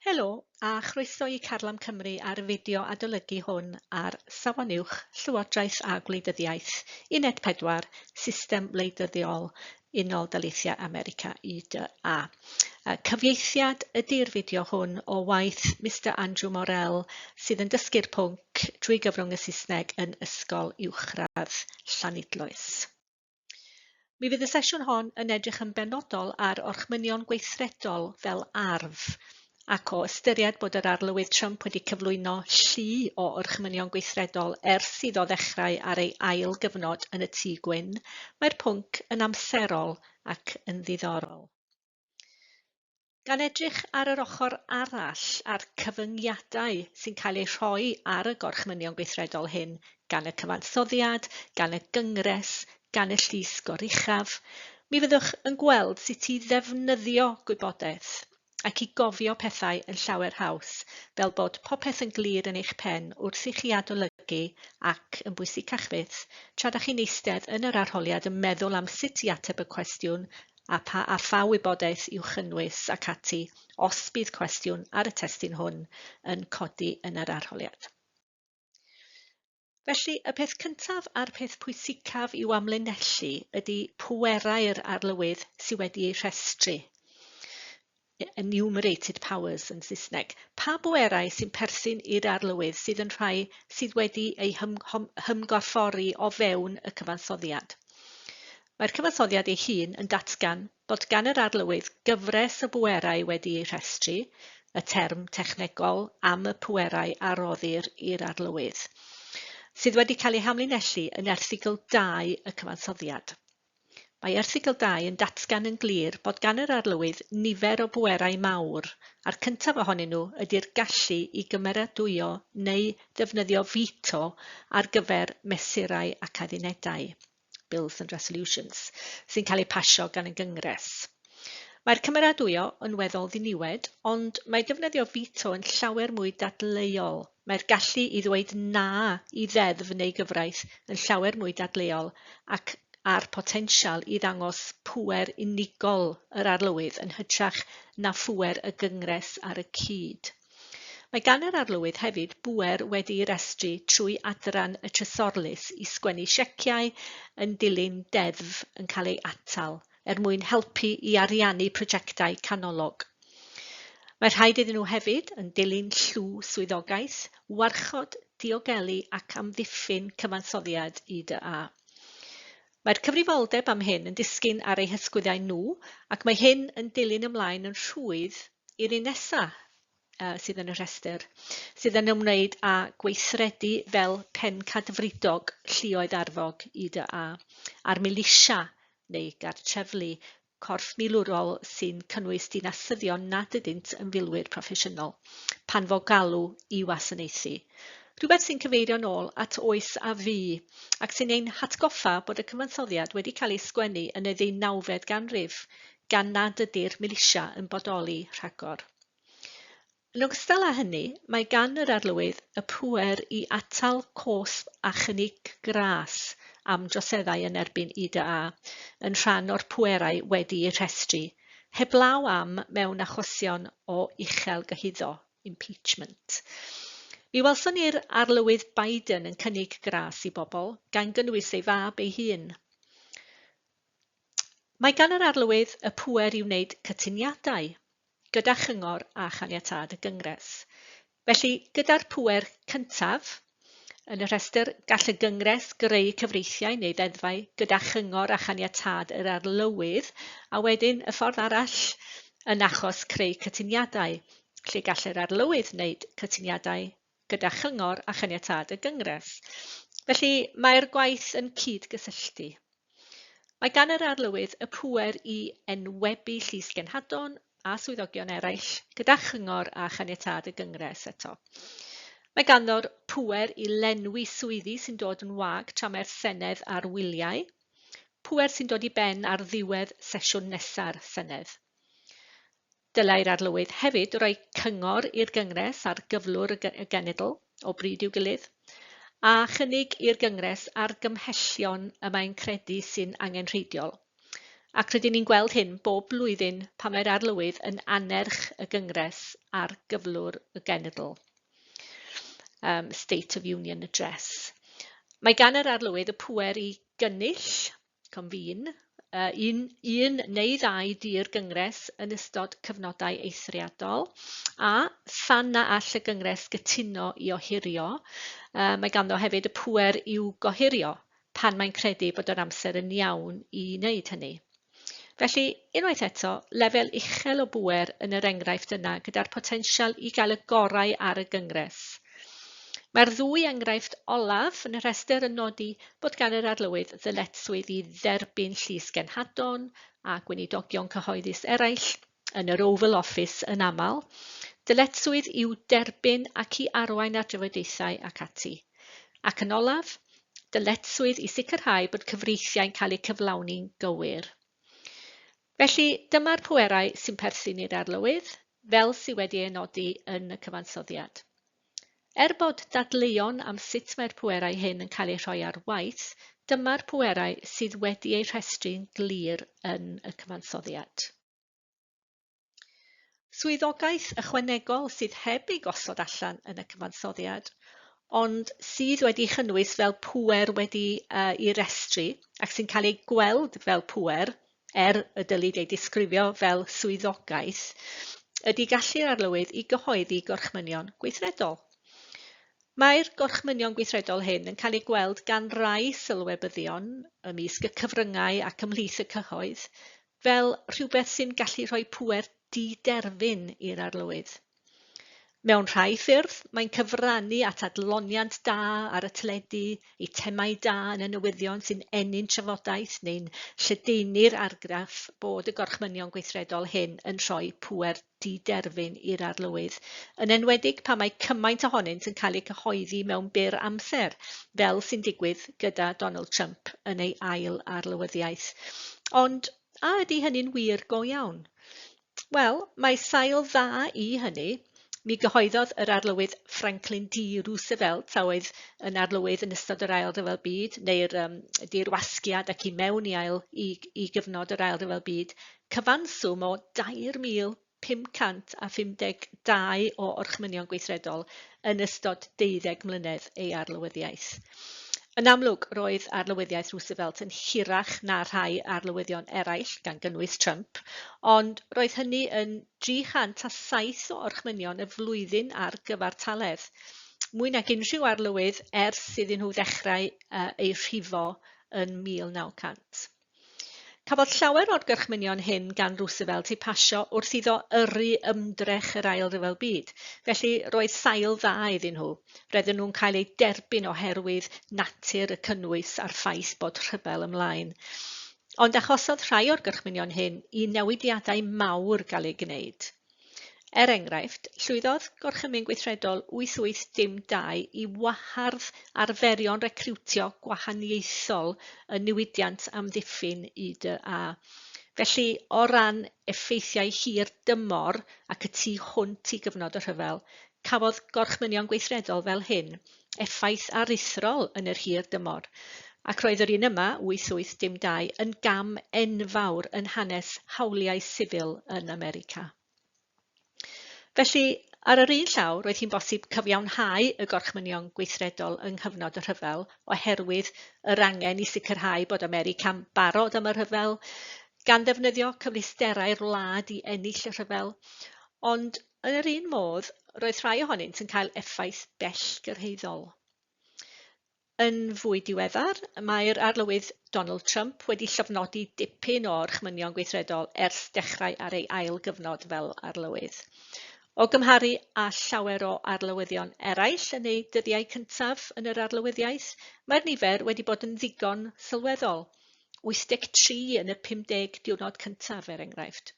Helo, a chroeso i Carlam Cymru a'r fideo adolygu hwn ar Safon Uwch, Llywodraeth a Gwleidyddiaeth, Uned 4, System Wleidyddiol Unol Daleithiau America, UDA. Cyfieithiad ydy'r fideo hwn o waith Mister Andrew Morell sydd yn dysgu'r pwnc drwy gyfrwng y Saesneg yn Ysgol Uwchradd Llanidloes. Mi fydd y sesiwn hon yn edrych yn benodol ar orchmynion gweithredol fel arf, ac o ystyried bod yr Arlywydd Trump wedi cyflwyno llu o orchmynion gweithredol ers iddo ddechrau ar ei ail gyfnod yn y Tŷ Gwyn, mae'r pwnc yn amserol ac yn ddiddorol. Gan edrych ar yr ochr arall a'r cyfyngiadau sy'n cael eu rhoi ar y gorchmynion gweithredol hyn gan y cyfansoddiad, gan y gyngres, gan y llys goruchaf, mi fyddwch yn gweld sut i ddefnyddio gwybodaeth ac i gofio pethau yn llawer haws, fel bod popeth yn glir yn eich pen wrth i chi adolygu ac, yn bwysicach fyth, tra 'da chi'n eistedd yn yr arholiad yn meddwl am sut i ateb y cwestiwn a pha a pha wybodaeth i'w chynnwys ac ati os bydd cwestiwn ar y testun hwn yn codi yn yr arholiad. Felly, y peth cyntaf a'r peth pwysicaf i'w amlinellu ydy pwerau'r arlywydd sydd wedi eu rhestru. enumerated powers yn Saesneg, pa bwerau sy'n perthyn i'r arlywydd sydd yn rhai sydd wedi eu hymgorffori o fewn y cyfansoddiad. Mae'r cyfansoddiad ei hun yn datgan bod gan yr arlywydd gyfres o bwerau wedi eu rhestru, y term technegol am y pwerau a roddir i'r arlywydd, sydd wedi cael eu hamlinellu yn erthygl 2 y cyfansoddiad. Mae erthygl dau yn datgan yn glir bod gan yr Arlywydd nifer o bwerau mawr, a'r cyntaf ohonyn nhw ydy'r gallu i gymeradwyo neu ddefnyddio veto ar gyfer mesurau ac addunedau, bills and resolutions, sy'n cael eu pasio gan y Gyngres. Mae'r cymeradwyo yn weddol ddiniwed, ond mae defnyddio veto yn llawer mwy dadleuol Mae'r gallu i ddweud 'na' i ddeddf neu gyfraith yn llawer mwy dadleuol ac â'r potensial i ddangos pŵer unigol yr Arlywydd yn hytrach na phŵer y Gyngres ar y cyd. Mae gan yr Arlywydd hefyd bŵer wedi'i restru trwy adran y Trysorlys i sgwennu sieciau yn dilyn deddf yn cael ei atal, er mwyn helpu i ariannu prosiectau canolog. Mae rhaid iddyn nhw hefyd, yn dilyn llw swyddogaeth, warchod, diogelu ac amddiffyn cyfansoddiad IDA. Mae'r cyfrifoldeb am hyn yn disgyn ar eu hysgwyddau nhw ac mae hyn yn dilyn ymlaen yn rhwydd i'r un nesaf. uh, sydd yn y rhestr, sydd yn ymwneud â gweithredu fel pencadfridog llioedd arfog i dy a, a'r milisia neu gartreflu corff milwrol sy'n cynnwys dinasyddion nad ydynt yn filwyr proffesiynol, pan fo galw i wasanaethu. Rhywbeth sy'n cyfeirio'n ôl at oes a fu, ac sy'n ein hatgoffa bod y cyfansoddiad wedi cael ei sgwennu yn y ddeunawfed ganrif, gan nad ydy'r milisia yn bodoli rhagor. Yn ogystal â hynny, mae gan yr Arlywydd y pŵer i atal cosb a chynnig gras am droseddau yn erbyn IDA yn rhan o'r pwerau wedi'u rhestru, heblaw am mewn achosion o uchel gyhuddo, impeachment. Mi welson ni'r Arlywydd Biden yn cynnig gras i bobl, gan gynnwys ei fab ei hun. Mae gan yr Arlywydd y pŵer i wneud cytuniadau, gyda chyngor a chaniatâd y Gyngres. Felly, gyda'r pŵer cyntaf yn y rhestr, gall y Gyngres greu cyfreithiau neu ddeddfau gyda chyngor a chaniatâd yr Arlywydd, a wedyn, y ffordd arall, yn achos creu cytuniadau, lle gall yr Arlywydd wneud cytuniadau gyda chyngor a chaniatâd y Gyngres. Felly, mae'r gwaith yn cyd-gysylltu. Mae gan yr arlywydd y pŵer i enwebu Llys Genhadon a swyddogion eraill gyda chyngor a chaniatâd y Gyngres eto. Mae ganddo'r pŵer i lenwi swyddi sy'n dod yn wag tra mae'r Senedd ar wyliau, pŵer sy'n dod i ben ar ddiwedd sesiwn nesa'r Senedd. Dylai'r Arlywydd hefyd roi cyngor i'r Gyngres ar gyflwr y genedl, o bryd i'w gilydd, a chynnig i'r Gyngres argymhellion y mae'n credu sy'n angenrheidiol, ac rydyn ni'n gweld hyn bob blwyddyn pan mae'r Arlywydd yn annerch y Gyngres ar gyflwr y genedl, um, State of Union Address. Mae gan yr Arlywydd y pŵer i gynnull convene, uh, un, un neu ddau dir gyngres yn ystod cyfnodau eithriadol, a phan na all y gyngres gytuno i ohirio, uh, mae ganddo hefyd y pwer i'w gohirio pan mae'n credu bod yr amser yn iawn i wneud hynny. Felly, unwaith eto, lefel uchel o bwer yn yr enghraifft yna gyda'r potensial i gael y gorau ar y gyngres. Mae'r ddwy enghraifft olaf yn y rhestr yn nodi Bod gan yr Arlywydd ddyletswydd i dderbyn llys genhadon a gweinidogion cyhoeddus eraill, yn yr Oval Office yn aml, dyletswydd i'w derbyn ac i arwain ar drafodaethau ac ati. Ac yn olaf, dyletswydd i sicrhau bod cyfreithiau'n cael eu cyflawni'n gywir. Felly, dyma'r pwerau sy'n perthyn i'r Arlywydd, fel sydd wedi ei nodi yn y cyfansoddiad. Er bod dadleuon am sut mae'r pwerau hyn yn cael eu rhoi ar waith, dyma'r pwerau sydd wedi eu rhestru'n glir yn y cyfansoddiad. Swyddogaeth ychwanegol sydd heb ei gosod allan yn y cyfansoddiad, ond sydd wedi'i chynnwys fel pŵer wedi'i restru ac sy'n cael ei gweld fel pŵer er y dylid ei disgrifio fel swyddogaeth, ydy gallu'r arlywydd i gyhoeddi gorchmynion gweithredol. Mae'r gorchmynion gweithredol hyn yn cael eu gweld gan rai sylwebyddion ymysg y cyfryngau ac ymhlith y cyhoedd fel rhywbeth sy'n gallu rhoi pŵer di-derfyn i'r arlywydd. Mewn rhai ffyrdd, mae'n cyfrannu at adloniant da ar y teledu, eitemau da yn y newyddion sy'n ennyn trafodaeth neu'n lledaenu'r argraff bod y gorchmynion gweithredol hyn yn rhoi pŵer di-derfyn i'r arlywydd, yn enwedig pan mae cymaint ohonynt yn cael eu cyhoeddi mewn byr amser, fel sy'n digwydd gyda Donald Trump yn ei ail arlywyddiaeth. Ond a ydy hynny'n wir go iawn? Wel, mae sail dda i hynny. Mi gyhoeddodd yr Arlywydd Franklin D Roosevelt, a oedd yn arlywydd yn ystod yr Ail Ryfel Byd, neu'r um, dirwasgiad ac i mewn i, ail, i, i gyfnod yr Ail Ryfel Byd, cyfanswm o 2,552 o orchmynion gweithredol yn ystod deuddeg mlynedd ei arlywyddiaeth. Yn amlwg, roedd arlywyddiaeth Roosevelt yn hirach na rhai arlywyddion eraill, gan gynnwys Trump, ond roedd hynny yn 307 o orchmynion y flwyddyn ar gyfartaledd, mwy nag unrhyw arlywydd ers iddyn nhw ddechrau eu rhifo yn 1900. Cafodd llawer o'r gorchmynion hyn gan Roosevelt eu pasio wrth iddo yrru ymdrech yr Ail Ryfel Byd, felly roedd sail dda iddyn nhw. Roedden nhw'n cael eu derbyn oherwydd natur y cynnwys a'r ffaith bod rhyfel ymlaen. Ond achosodd rhai o'r gorchmynion hyn i newidiadau mawr gael eu gwneud. Er enghraifft, llwyddodd Gorchymyn Gweithredol 8812 i wahardd arferion recriwtio gwahaniaethol y niwydiant amddiffyn UDA. Felly, o ran effeithiau hir dymor ac y tu hwnt i gyfnod y rhyfel, cafodd Gorchmynion Gweithredol fel hyn effaith aruthrol yn yr hir dymor, ac roedd yr un yma, 8812, yn gam enfawr yn hanes hawliau sifil yn America. Felly, ar yr un llaw, roedd hi'n bosib cyfiawnhau y gorchmynion gweithredol yng nghyfnod y rhyfel oherwydd yr angen i sicrhau bod America'n barod am y rhyfel, gan ddefnyddio cyfleusterau'r wlad i ennill y rhyfel, ond Yn yr un modd, roedd rhai ohonynt yn cael effaith bellgyrhaeddol. Yn fwy diweddar, mae'r Arlywydd Donald Trump wedi llofnodi dipyn o orchmynion gweithredol ers dechrau ar ei ail gyfnod fel arlywydd. O gymharu â llawer o arlywyddion eraill yn eu dyddiau cyntaf yn yr arlywyddiaeth, mae'r nifer wedi bod yn ddigon sylweddol, 83 yn y 50 diwrnod cyntaf, er enghraifft.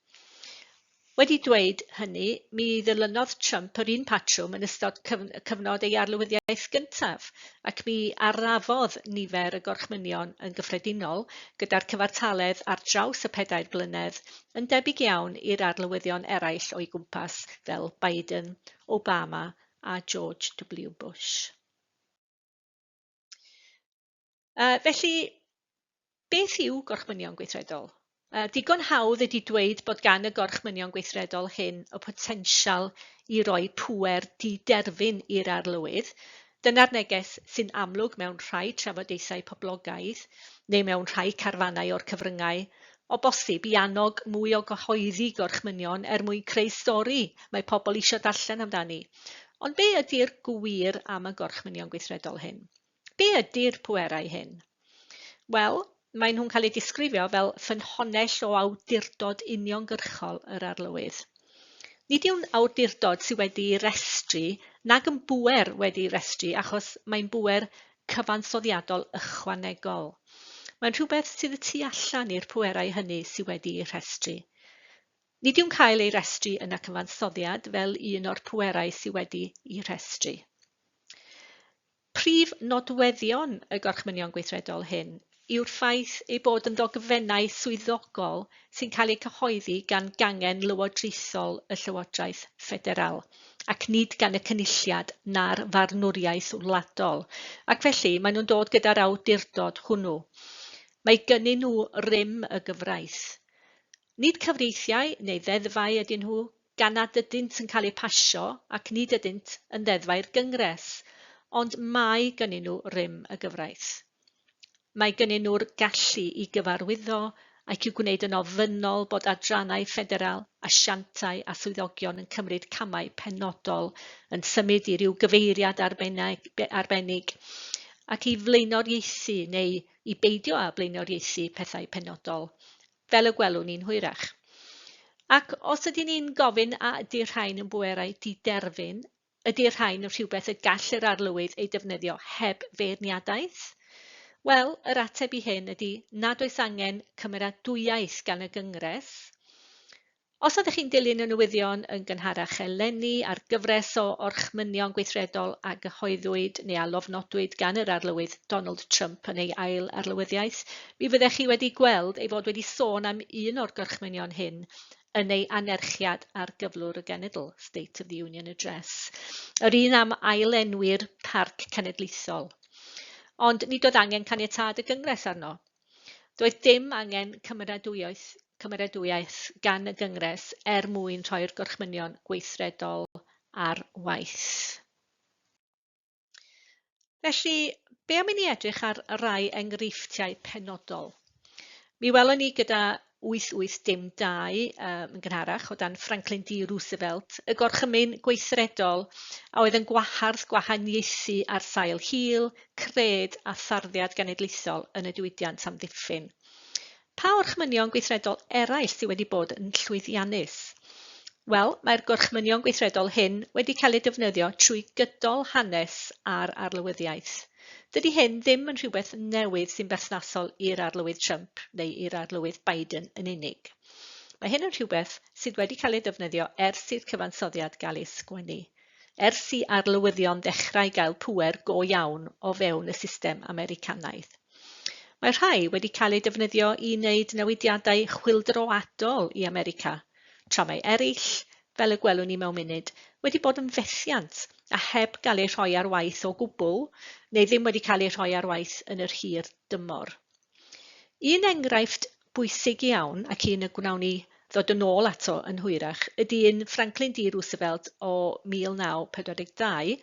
Wedi dweud hynny, mi ddilynodd Trump yr un patrwm yn ystod cyfnod ei arlywyddiaeth gyntaf, ac mi arafodd nifer y gorchmynion yn gyffredinol, gyda'r cyfartaledd ar draws y pedair blynedd yn debyg iawn i'r arlywyddion eraill o'i gwmpas fel Biden, Obama a George W Bush. Uh, felly, beth yw gorchmynion gweithredol? Uh, digon hawdd ydy dweud bod gan y gorchmynion gweithredol hyn y potensial i roi pwer diderfyn i'r arlywydd. Dyna'r neges sy'n amlwg mewn rhai trafodaethau poblogaidd neu mewn rhai carfannau o'r cyfryngau, o bosib i annog mwy o gyhoeddi gorchmynion er mwyn creu stori mae pobl eisiau darllen amdani. Ond be ydy'r gwir am y gorchmynion gweithredol hyn? Be ydy'r pwerau hyn? Wel, maen nhw'n cael eu disgrifio fel ffynhonnell o awdurdod uniongyrchol yr Arlywydd. Nid yw'n awdurdod sydd wedi'i restru nag yn bŵer wedi'i restru achos mae'n bŵer cyfansoddiadol ychwanegol. Mae'n rhywbeth sydd y tu allan i'r pwerau hynny sydd wedi'i rhestru. Nid yw'n cael ei restru yn y cyfansoddiad fel un o'r pwerau sydd wedi'i rhestru. Prif nodweddion y Gorchmynion Gweithredol hyn yw'r ffaith eu bod yn ddogfennau swyddogol sy'n cael eu cyhoeddi gan gangen lywodraethol y Llywodraeth Ffederal, ac nid gan y Cynulliad na'r farnwriaeth wladol, ac felly maen nhw'n dod gyda'r awdurdod hwnnw. Mae gynnyn nhw rym y gyfraith. Nid cyfreithiau neu ddeddfau ydyn nhw, gan nad ydynt yn cael eu pasio ac nid ydynt yn ddeddfau i'r Gyngres, ond mae gynnyn nhw rym y gyfraith. Mae gynnyn nhw'r gallu i gyfarwyddo ac i'w gwneud yn ofynnol bod adrannau ffederal, asiantau a swyddogion yn cymryd camau penodol, yn symud i ryw gyfeiriad arbennig, ac i flaenoriaethu neu i beidio â blaenoriaethu pethau penodol, fel y gwelwn ni'n hwyrach. Ac os ydyn ni'n gofyn a ydy'r rhain yn bwerau diderfyn, ydy'r rhain yn rhywbeth y gall yr arlywydd eu defnyddio heb feirniadaeth? Wel, yr ateb i hyn ydy nad oes angen cymeradwyaeth gan y Gyngres. Os ydych chi'n dilyn y newyddion yn gynharach eleni a'r gyfres o orchmynion gweithredol a gyhoeddwyd neu a lofnodwyd gan yr Arlywydd Donald Trump yn ei ail arlywyddiaeth, mi fyddech chi wedi gweld ei fod wedi sôn am un o'r gorchmynion hyn yn ei anerchiad ar gyflwr y genedl, State of the Union Address, yr un am ailenwi'r Parc Cenedlaethol. Ond nid oedd angen caniatâd y Gyngres arno. Doedd dim angen cymeradwyaeth, cymeradwyaeth gan y Gyngres er mwyn rhoi'r gorchmynion gweithredol ar waith. Felly, be am i ni edrych ar rai enghreifftiau penodol? Mi welon ni gyda 8812 um, yn gynharach, o dan Franklin D Roosevelt, y gorchymyn gweithredol a oedd yn gwahardd gwahaniaethu ar sail hil, cred a tharddiad genedlaethol yn y diwydiant amddiffyn. Pa orchmynion gweithredol eraill sydd wedi bod yn llwyddiannus? Wel, mae'r gorchmynion gweithredol hyn wedi cael eu defnyddio trwy gydol hanes a'r arlywyddiaeth. Dydy hyn ddim yn rhywbeth newydd sy'n berthnasol i'r Arlywydd Trump neu i'r Arlywydd Biden yn unig. Mae hyn yn rhywbeth sydd wedi cael ei ddefnyddio ers i'r cyfansoddiad gael ei sgwennu, ers i arlywyddion ddechrau gael pŵer go iawn o fewn y system Americanaidd. Mae rhai wedi cael eu defnyddio i wneud newidiadau chwyldroadol i America, tra mae eraill fel y gwelwn ni mewn munud, wedi bod yn fethiant, a heb gael eu rhoi ar waith o gwbl, neu ddim wedi cael eu rhoi ar waith yn yr hir dymor. Un enghraifft bwysig iawn, ac un y gwnawn ni ddod yn ôl ato yn hwyrach, ydy un Franklin D Roosevelt o 1942,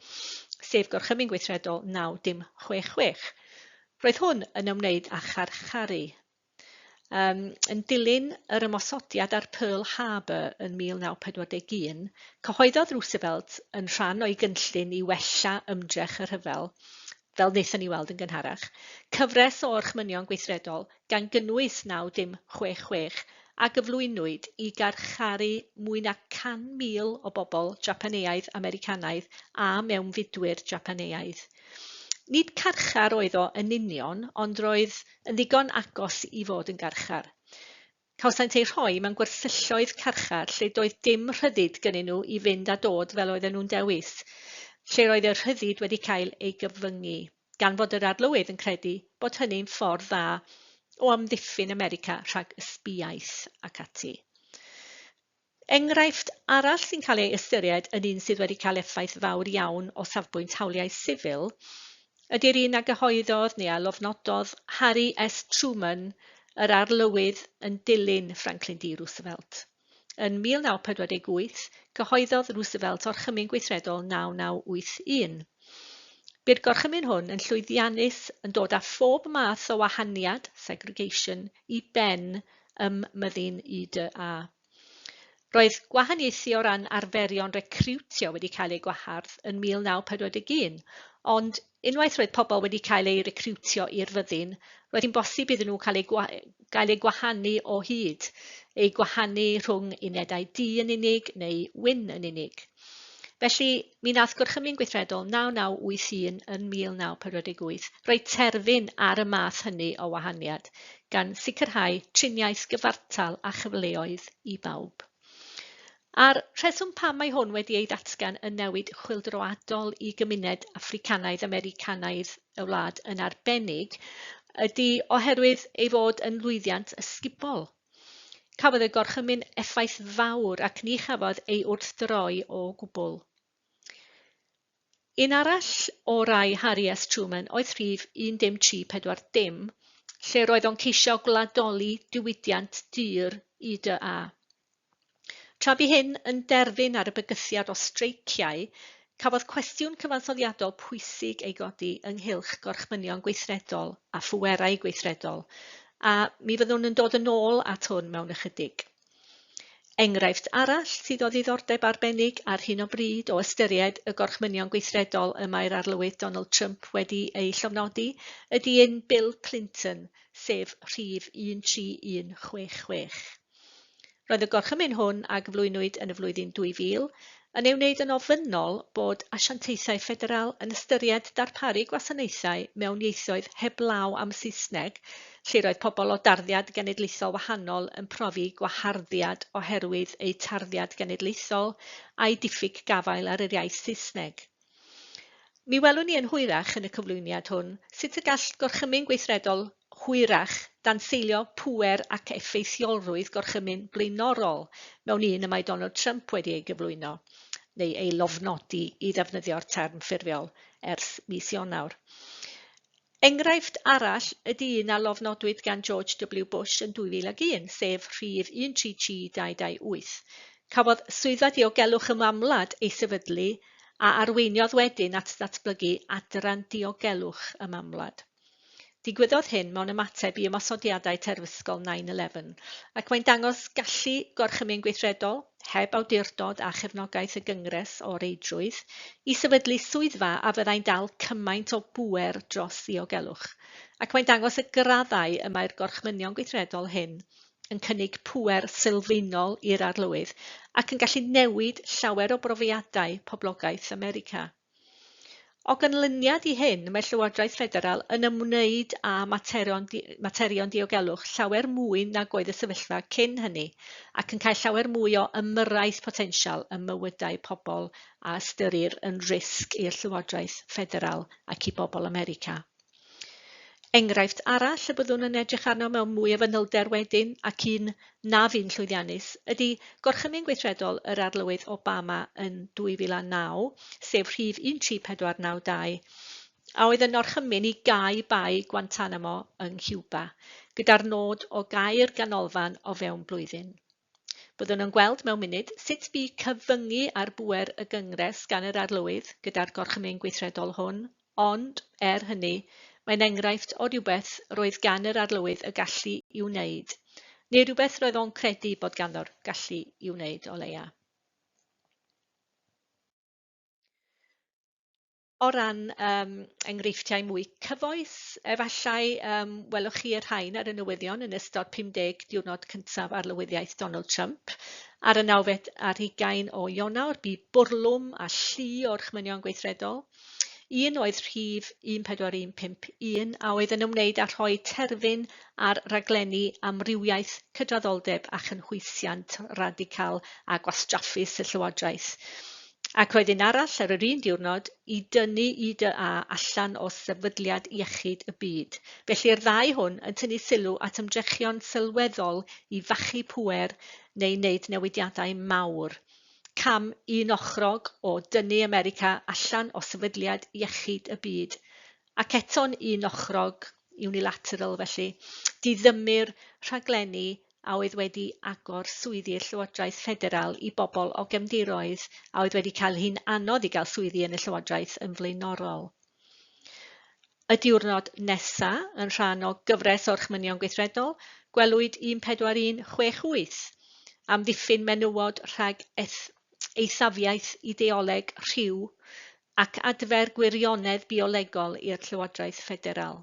sef Gorchymyn Gweithredol 9066. Roedd hwn yn ymwneud â charcharu, Um, yn dilyn yr ymosodiad ar Pearl Harbor yn 1941, cyhoeddodd Roosevelt yn rhan o'i gynllun i wella ymdrech y rhyfel, fel wnaethon ni weld yn gynharach, cyfres o orchmynion gweithredol gan gynnwys 9066 a gyflwynwyd i garcharu mwy na 100,000 o bobl Japaneaidd, Americanaidd a mewnfudwyr Japaneaidd. Nid carchar oedd o yn union, ond roedd yn ddigon agos i fod yn garchar. Cawsant eu rhoi mewn gwersylltoedd carchar lle doedd dim rhyddid gynnyn nhw i fynd a dod fel oedden nhw'n dewis, lle roedd y rhyddid wedi cael ei gyfyngu, gan fod yr Arlywydd yn credu bod hynny'n ffordd dda o amddiffyn America rhag ysbiaeth ac ati. Enghraifft arall sy'n cael ei ystyried yn un sydd wedi cael effaith fawr iawn o safbwynt hawliau sifil ydy'r un a gyhoeddodd, neu a lofnododd, Harry S Truman, yr Arlywydd yn dilyn Franklin D Roosevelt. Yn 1948, cyhoeddodd Roosevelt Orchymyn Gweithredol 9981. Bu'r gorchymyn hwn yn llwyddiannus, yn dod â phob math o wahaniad, segregation, i ben ym Myddin UDA. Roedd gwahaniaethu o ran arferion recriwtio wedi cael eu gwahardd yn 1941, ond unwaith roedd pobl wedi cael eu recriwtio i'r fyddin, roedd hi'n bosib iddyn nhw cael eu, gwa gael eu gwahanu o hyd, eu gwahanu rhwng unedau du yn unig neu wyn yn unig. Felly, Mi wnaeth Gorchymyn Gweithredol 9981 yn 1948 roi terfyn ar y math hynny o wahaniad, gan sicrhau triniaeth gyfartal a chyfleoedd i bawb. A'r rheswm pam mae hwn wedi ei ddatgan yn newid chwyldroadol i gymuned Affricanaidd-Americanaidd y wlad yn arbennig ydy oherwydd ei fod yn lwyddiant ysgubol. Cafodd y gorchymyn effaith fawr ac ni chafodd ei wrthdroi o gwbl. Un arall o rai Harry S Truman oedd rhif 10340, lle roedd o'n ceisio gwladoli diwydiant dur UDA. Tra bu hyn yn derfyn ar y bygythiad o streiciau, cafodd cwestiwn cyfansoddiadol pwysig ei godi ynghylch gorchmynion gweithredol a phwerau gweithredol, a mi fyddwn yn dod yn ôl at hwn mewn ychydig. Enghraifft arall sydd o ddiddordeb arbennig ar hyn o bryd o ystyried y gorchmynion gweithredol y mae'r Arlywydd Donald Trump wedi eu llofnodi ydy un Bill Clinton, sef rhif 13166. Roedd y gorchymyn hwn a gyflwynwyd yn y flwyddyn 2000 yn ei wneud yn ofynnol bod asiantaethau ffederal yn ystyried darparu gwasanaethau mewn ieithoedd heblaw am Saesneg lle roedd pobl o darddiad genedlaethol wahanol yn profi gwaharddiad oherwydd eu tarddiad genedlaethol a'u diffyg gafael ar yr iaith Saesneg. Mi welwn ni yn hwyrach yn y cyflwyniad hwn sut y gall gorchymyn gweithredol hwyrach, danseilio pŵer ac effeithiolrwydd gorchymyn blaenorol mewn un y mae Donald Trump wedi ei gyflwyno, neu ei lofnodi i ddefnyddio'r term ffurfiol, ers mis Ionawr. Enghraifft arall ydy un a lofnodwyd gan George W Bush yn 2001, sef Rhif 133-228. Cafodd Swyddfa Diogelwch Ymamwlad ei sefydlu a arweiniodd wedyn at ddatblygu Adran Diogelwch Ymamwlad. Digwyddodd hyn mewn ymateb i ymosodiadau terfysgol 9-11, ac mae'n dangos gallu Gorchymyn Gweithredol, heb awdurdod a chefnogaeth y Gyngres o reidrwydd, i sefydlu swyddfa a fyddai'n dal cymaint o bŵer dros ddiogelwch, ac mae'n dangos y graddau y mae'r Gorchmynion Gweithredol hyn yn cynnig pŵer sylfaenol i'r Arlywydd ac yn gallu newid llawer o brofiadau poblogaeth America. O ganlyniad i hyn, mae Llywodraeth Ffederal yn ymwneud â materion, materion diogelwch llawer mwy nag oedd y sefyllfa cyn hynny, ac yn cael llawer mwy o ymyrraeth potensial ym mywydau pobl a ystyrir yn risg i'r Llywodraeth Ffederal ac i bobl America. Enghraifft arall y byddwn yn edrych arno mewn mwy o fanylder wedyn, ac un na fu'n llwyddiannus, ydy gorchymyn gweithredol yr Arlywydd Obama yn 2009, sef rhif 13492, a oedd yn orchymyn i gau Bae Guantanamo yng Nghiwba, gyda'r nod o gau'r ganolfan o fewn blwyddyn. Byddwn yn gweld mewn munud sut bu cyfyngu ar bŵer y Gyngres gan yr Arlywydd gyda'r Gorchymyn Gweithredol hwn, ond, er hynny, mae'n enghraifft o rywbeth roedd gan yr Arlywydd y gallu i'w wneud, neu rywbeth roedd o'n credu bod ganddo'r gallu i'w wneud, o leia'. o ran yym enghreifftiau mwy cyfoes, efallai yym, welwch chi y rhain ar y newyddion yn ystod 50 diwrnod cyntaf arlywyddiaeth Donald Trump. Ar y nawfed ar hugain o Ionawr, bu bwrlwm a llu o'r chmynion gweithredol. Un oedd rhif 14151 a oedd yn ymwneud â rhoi terfyn ar raglenni amrywiaeth cydraddoldeb a chynhwysiant radical a gwastraffus y Llywodraeth. Ac roedd un arall ar yr un diwrnod i dynnu UDA allan o Sefydliad Iechyd y Byd. Felly'r ddau hwn yn tynnu sylw at ymdrechion sylweddol i fachu pŵer neu wneud newidiadau mawr. Cam un ochrog o dynnu America allan o Sefydliad Iechyd y Byd. Ac eto'n un ochrog, unilateral felly, diddymmu'r rhaglenni a oedd wedi agor swyddi'r Llywodraeth Ffederal i bobl o gefndiroedd a oedd wedi cael hi'n anodd i gael swyddi yn y Llywodraeth yn flaenorol. Y diwrnod nesa, yn rhan o gyfres o'r chmynion gweithredol, gwelwyd 14168 am ddiffyn menywod rhag eth- eithafiaeth ideoleg rhyw ac adfer gwirionedd biolegol i'r Llywodraeth Ffederal.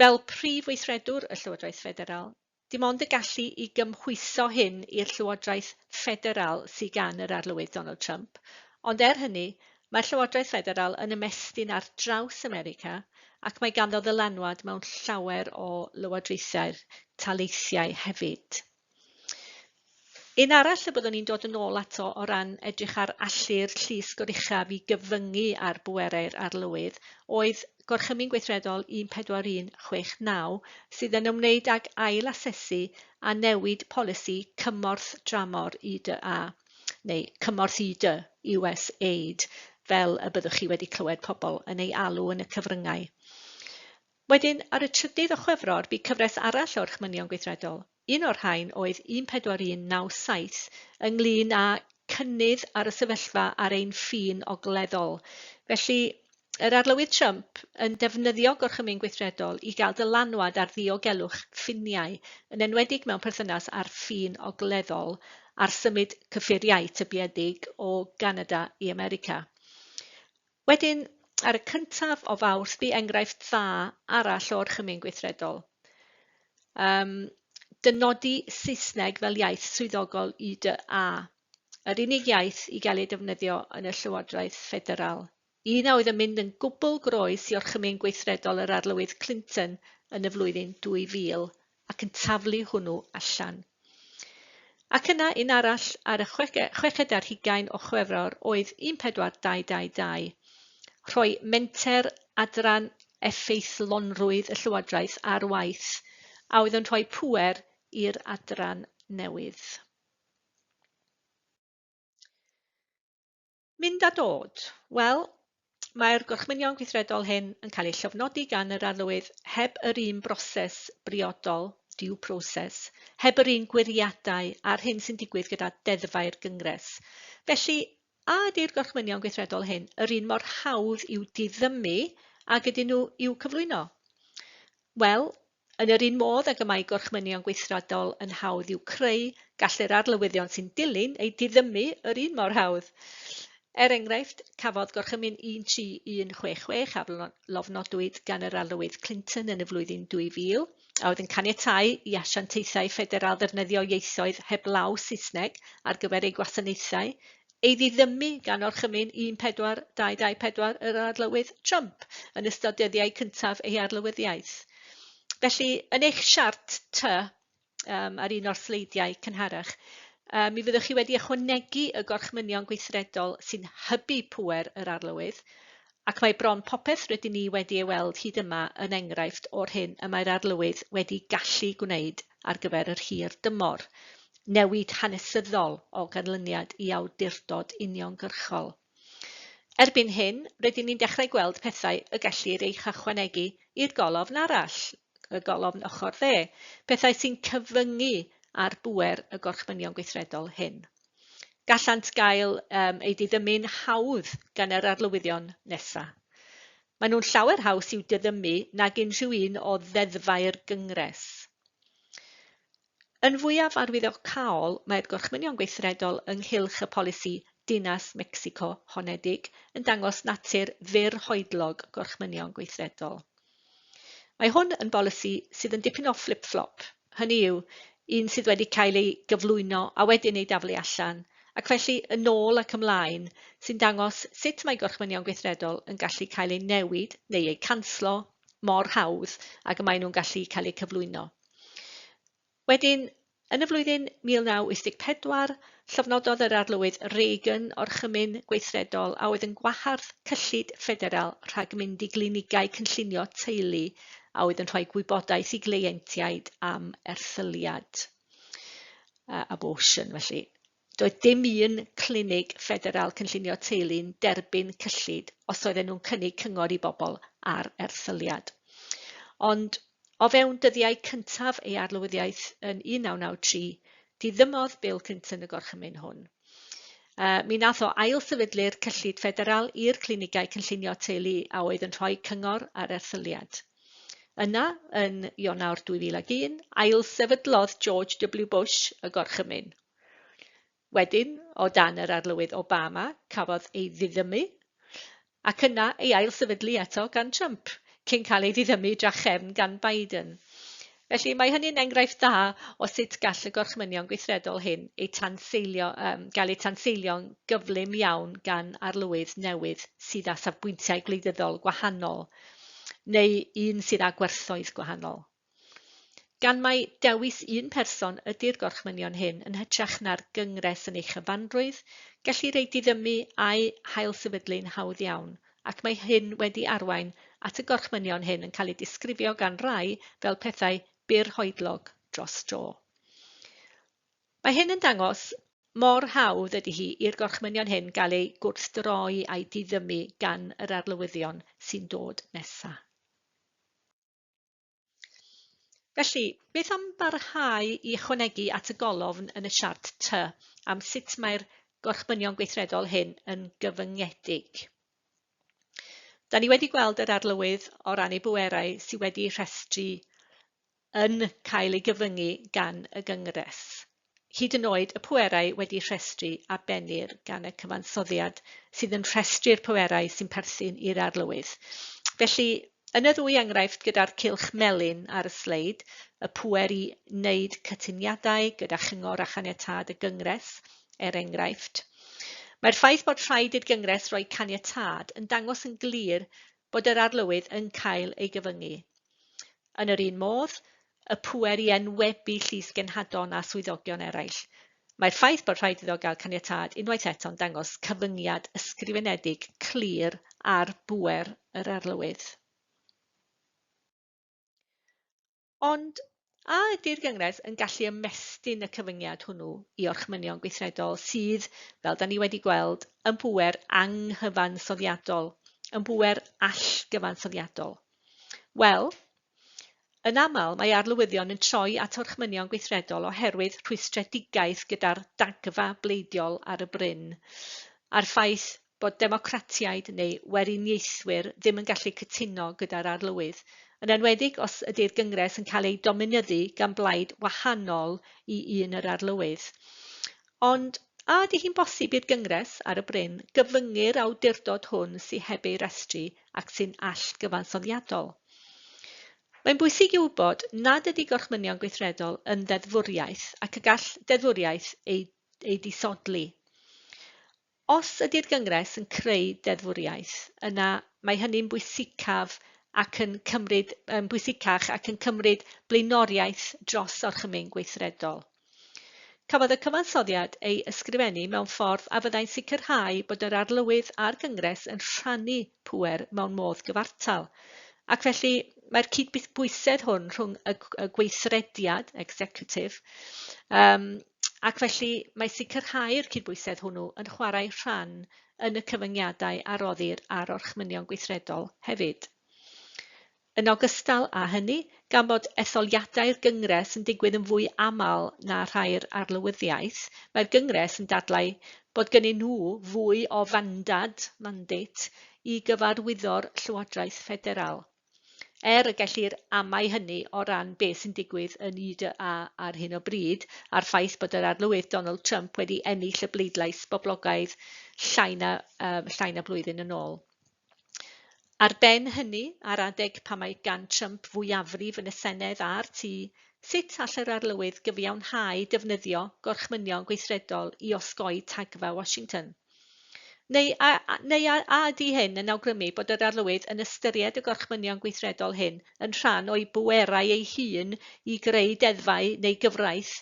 Fel Prif Weithredwr y Llywodraeth Ffederal, dim ond y gallu i gymhwyso hyn i'r Llywodraeth Ffederal sy gan yr Arlywydd Donald Trump, ond er hynny, mae'r Llywodraeth Ffederal yn ymestyn ar draws America ac mae ganddo ddylanwad mewn llawer o lywodraethau'r taleithiau hefyd. Un arall y byddwn i'n dod yn ôl ato o ran edrych ar allu'r llys goruchaf i gyfyngu ar bwerau'r arlywydd oedd Gorchymyn Gweithredol 1416 sydd yn ymwneud ag ail-asesu a newid polisi cymorth dramor IDA, neu cymorth ID, US Aid, fel y byddwch chi wedi clywed pobl yn ei alw yn y cyfryngau. Wedyn, ar y trydydd o Chwefror, bu cyfres arall o orchmynion gweithredol. Un o'r rhain oedd 14197 ynglŷn â cynnydd ar y sefyllfa ar ein ffin ogleddol. Felly, yr Arlywydd Trump yn defnyddio gorchymyn gweithredol i gael dylanwad ar ddiogelwch ffiniau, yn enwedig mewn perthynas â'r ffin ogleddol a'r symud cyffuriau tybiedig o Ganada i America. Wedyn, ar y cyntaf o Fawrth, bu enghraifft dda arall o orchymyn gweithredol, yym, dynodi Saesneg fel iaith swyddogol UDA, yr unig iaith i gael ei defnyddio yn y Llywodraeth Ffederal, un a oedd yn mynd yn gwbl groes i orchymyn gweithredol yr Arlywydd Clinton yn y flwyddyn 2000. ac yn taflu hwnnw allan. Ac yna un arall ar y chweched ar hugain o Chwefror oedd 14222, rhoi menter adran effeithlonrwydd y Llywodraeth ar waith, a oedd yn rhoi pŵer i'r adran newydd. Mynd a dod. Wel, mae'r gorchmynion gweithredol hyn yn cael eu llofnodi gan yr Arlywydd heb yr un broses briodol, due process, heb yr un gwiriadau â'r hyn sy'n digwydd gyda deddfau'r Gyngres. Felly, a ydy'r gorchmynion gweithredol hyn yr un mor hawdd i'w diddymu ag ydyn nhw i'w cyflwyno? Wel, Yn yr un modd ag y mae gorchmynion gweithredol yn hawdd i'w creu, gallir arlywyddion sy'n dilyn eu diddymu yr un mor hawdd. Er enghraifft, cafodd gorchymyn un tri un chwe chwech a lofnodwyd gan yr Arlywydd Clinton yn y flwyddyn 2000, a oedd yn caniatáu i asiantaethau ffederal ddefnyddio ieithoedd heblaw Saesneg ar gyfer eu gwasanaethau, ei ddiddymu gan orchymyn 14224 yr Arlywydd Trump yn ystod dyddiau cyntaf ei arlywyddiaeth. Felly, yn eich siart ty, um, ar un o'r sleidiau cynharach, um, mi fyddwch chi wedi ychwanegu y gorchmynion gweithredol sy'n hybu pŵer yr arlywydd, Ac mae bron popeth rydyn ni wedi ei weld hyd yma yn enghraifft o'r hyn y mae'r Arlywydd wedi gallu gwneud ar gyfer yr hir dymor, newid hanesyddol o ganlyniad i awdurdod uniongyrchol. Erbyn hyn, rydyn ni'n dechrau gweld pethau y gellir eu hychwanegu i'r golofn arall, y golofn ochr dde, pethau sy'n cyfyngu ar bŵer y gorchmynion gweithredol hyn. gallant gael um, ei diddymu'n hawdd gan yr arlywyddion nesaf. Maen nhw'n llawer haws i'w diddymu nag unrhyw un o ddeddfau'r gyngres. Yn fwyaf arwyddocaol, mae'r gorchmynion gweithredol ynghylch y polisi Dinas Mexico Honedig yn dangos natur fyrhoedlog gorchmynion gweithredol. Mae hwn yn bolisi sydd yn dipyn o fflip-fflop, hynny yw, un sydd wedi cael ei gyflwyno a wedyn ei daflu allan, ac felly yn ôl ac ymlaen, sy'n dangos sut mae gorchmynion gweithredol yn gallu cael eu newid neu eu canslo mor hawdd ag y maen nhw'n gallu cael eu cyflwyno. Wedyn, yn y flwyddyn 1984, llofnododd yr Arlywydd Reagan orchymyn gweithredol a oedd yn gwahardd cyllid ffederal rhag mynd i glinigau cynllunio teulu a oedd yn rhoi gwybodaeth i gleientiaid am erthyliad, abortion felly. Doedd dim un clinig ffederal cynllunio teulu'n derbyn cyllid os oedden nhw'n cynnig cyngor i bobl ar erthyliad. Ond o fewn dyddiau cyntaf ei arlwyddiaeth yn 1993, diddymodd Bill Clinton y gorchymyn hwn. Uh, mi nath o ailsefydlu'r cyllid ffederal i'r clinigau cynllunio teulu a oedd yn rhoi cyngor ar erthyliad. Yna, yn Ionawr 2001, ailsefydlodd George W Bush y gorchymyn. Wedyn, o dan yr Arlywydd Obama, cafodd ei ddiddymu, ac yna ei ailsefydlu eto gan Trump, cyn cael ei ddiddymu drachefn gan Biden. Felly, mae hynny'n enghraifft dda o sut gall y gorchmynion gweithredol hyn eu tanseilio, um, gael eu tanseilio'n gyflym iawn gan arlywydd newydd sydd â safbwyntiau gwleidyddol gwahanol, neu un sydd â gwerthoedd gwahanol. Gan mai dewis un person ydy'r gorchmynion hyn yn hytrach na'r gyngres yn ei chyfanrwydd, gellir eu diddymu a'u hailsefydlu'n hawdd iawn, ac mae hyn wedi arwain at y gorchmynion hyn yn cael eu disgrifio gan rai fel pethau bur hoedlog dros dro. Mae hyn yn dangos mor hawdd ydy hi i'r gorchmynion hyn gael eu gwrthdroi a'u diddymu gan yr arlywyddion sy'n dod nesaf. Felly, beth am barhau i ychwanegu at y golofn yn y siart Ty am sut mae'r gorchmynion gweithredol hyn yn gyfyngedig? Da ni wedi gweld yr arlywydd o ran ei bwerau sydd wedi rhestru yn cael ei gyfyngu gan y Gyngres. hyd yn oed y pwerau wedi rhestru a bennir gan y cyfansoddiad sydd yn rhestru'r pwerau sy'n perthyn i'r arlywydd. Felly, yn y ddwy enghraifft gyda'r cylch melyn ar y sleid, y pwer i wneud cytuniadau gyda chyngor a chaniatâd y Gyngres, er enghraifft, mae'r ffaith bod rhaid i'r Gyngres roi caniatâd yn dangos yn glir bod yr arlywydd yn cael ei gyfyngu. Yn yr un modd, y pŵer i enwebu llysgenhadon a swyddogion eraill. Mae'r ffaith bod rhaid iddo gael caniatâd unwaith eto'n dangos cyfyngiad ysgrifenedig clir ar bŵer yr arlywydd. Ond a ydy'r Gyngres yn gallu ymestyn y cyfyngiad hwnnw i orchmynion gweithredol sydd, fel da ni wedi gweld, yn bŵer anghyfansoddiadol, yn bŵer allgyfansoddiadol? Wel, Yn aml, mae arlywyddion yn troi at orchmynion gweithredol oherwydd rhwystredigaeth gyda'r dagfa bleidiol ar y bryn, a'r ffaith bod democratiaid neu weriniaethwyr ddim yn gallu cytuno gyda'r arlywydd, yn enwedig os ydy'r Gyngres yn cael ei dominyddu gan blaid wahanol i un yr arlywydd. Ond, a ydy hi'n bosib i'r Gyngres, ar y bryn, gyfyngu'r awdurdod hwn sy heb ei restru ac sy'n allgyfansoddiadol? Mae'n bwysig i'w wybod nad ydy gorchmynion gweithredol yn ddeddfwriaeth ac y gall deddfwriaeth eu eu disodli. Os ydy'r Gyngres yn creu deddfwriaeth, yna mae hynny'n bwysicaf ac yn cymryd, yn bwysicach ac yn cymryd blaenoriaeth dros orchymyn gweithredol. Cafodd y cyfansoddiad ei ysgrifennu mewn ffordd a fyddai'n sicrhau bod yr Arlywydd a'r Gyngres yn rhannu pŵer mewn modd gyfartal, ac felly mae'r cydbwysedd hwn rhwng y gweithrediad, executive, um, Ac felly, mae sicrhau'r cydbwysedd hwnnw yn chwarae rhan yn y cyfyngiadau a roddir ar orchmynion gweithredol hefyd. Yn ogystal â hynny, gan bod etholiadau'r Gyngres yn digwydd yn fwy aml na rhai'r Arlywyddiaeth, mae'r Gyngres yn dadlau bod gynnyn nhw fwy o fandad, mandate, i gyfarwyddo'r Llywodraeth Ffederal. er y gellir amau hynny o ran beth sy'n digwydd yn UDA ar hyn o bryd a'r ffaith bod yr arlywydd Donald Trump wedi ennill y bleidlais boblogaidd llai na, um, llai na blwyddyn yn ôl. Ar ben hynny, ar adeg pan mae gan Trump fwyafrif yn y Senedd a'r tu, sut all yr arlywydd gyfiawnhau defnyddio gorchmynion gweithredol i osgoi tagfa Washington? Neu a, a, neu a, a ydy hyn yn awgrymu bod yr Arlywydd yn ystyried y gorchmynion gweithredol hyn yn rhan o'i bwerau ei hun i greu deddfau neu gyfraith